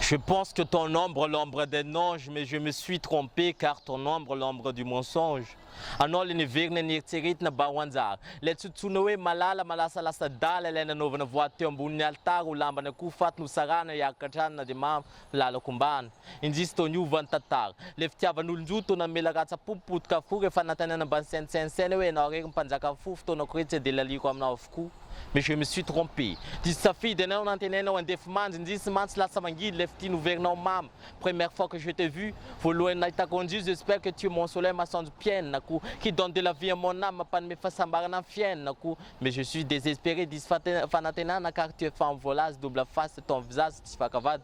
Je pense que ton nombre l'ombre d'un ange mais je me suis trompé car ton nombre l'ombre du mensonge anao le neverina neritseretina ba ho anjara ilay tsy otsoina hoe malala malasa lasadala ilay nanaovana voady teo ambonin'ny alitara ho lamban'akoho faty nosarahana hiaraka an-tranona dia mamo lalako mbana Indrisy toa niova ny tantara. Ilay fitiavan'olon-jo toa namela ratsa-po potika avokoa rehefa nanontaniana mba ny saintsainsaina hoe ianao irery ny mpanjakan'ny fo, fotoanako irery tsy dia laliako aminao avokoa. Mais je me suis trompé. Diso safidy ianao nantenainao handefa manja, indrisy mantsy lasa mangidy ilay fitia noverinao mamo. Première fois que je t'ai vu, voalohany nahitako an'izio, j'espère que tu es mon soleil masoandro mpiainako, qui donne de la vie à mon âme mampanome fahasambarana ny fiainako. Mais je suis desespéré, diso fanantenana car tu es femme volazy, double face, ton visage tsy vakavady.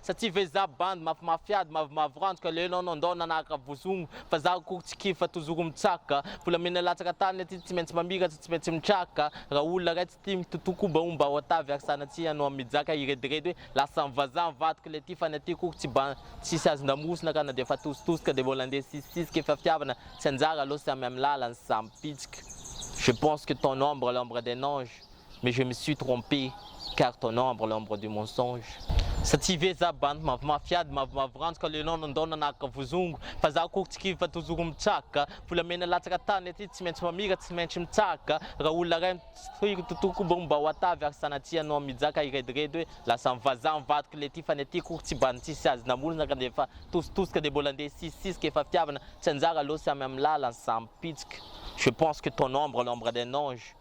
Sa tsy vezaha bandy mafimafiady mavomavo ranjoka le enao no ndao nanaraka vozogno fa za akory tsy kivy fa tozoro mitsaka volamena latsaka tany aty tsy maintsy mamiratra tsy maintsy mitraka ra olona ray tsy tia mitotoa koba omba ao atavy ary sanatsiha no am mijaka hirediredy hoe lasan vazaha ny vadiko le ty fa ny aty akory tsy bandy tsisy azon damosina ka na de efa tositoska de mbola ndeha sisisisy ke fiafiavana tsy anjara aloha samy am lalany samy pitsika je pense que ton ombre l'ombre d'un ange mais je me suis trompé car ton ombre l'ombre du mensonge. Sa tsy ve za bandy mavomafy ady mavomavo ranjo ka lenao nandao nanaraka vozongo fa za akory tsy kivy fa tozoro mitsaka volamena latsaka tany aty tsy maintsy mamira tsy maintsy mitsaka raha olona ray mitsiry tontolo koa bongo mba ho atavy ary sanatria anao mijaka hirediredy hoe lasa ny vazaha ny vadiko le ty fa ny aty akory tsy bandy tsisy azy namolona ka dia efa tositosika dia mbola ndeha hisisisika efa fiavana tsy anjara aloha samy amin'ny lalany samy pitsika je pense que ton ombre l'ombre d'un ange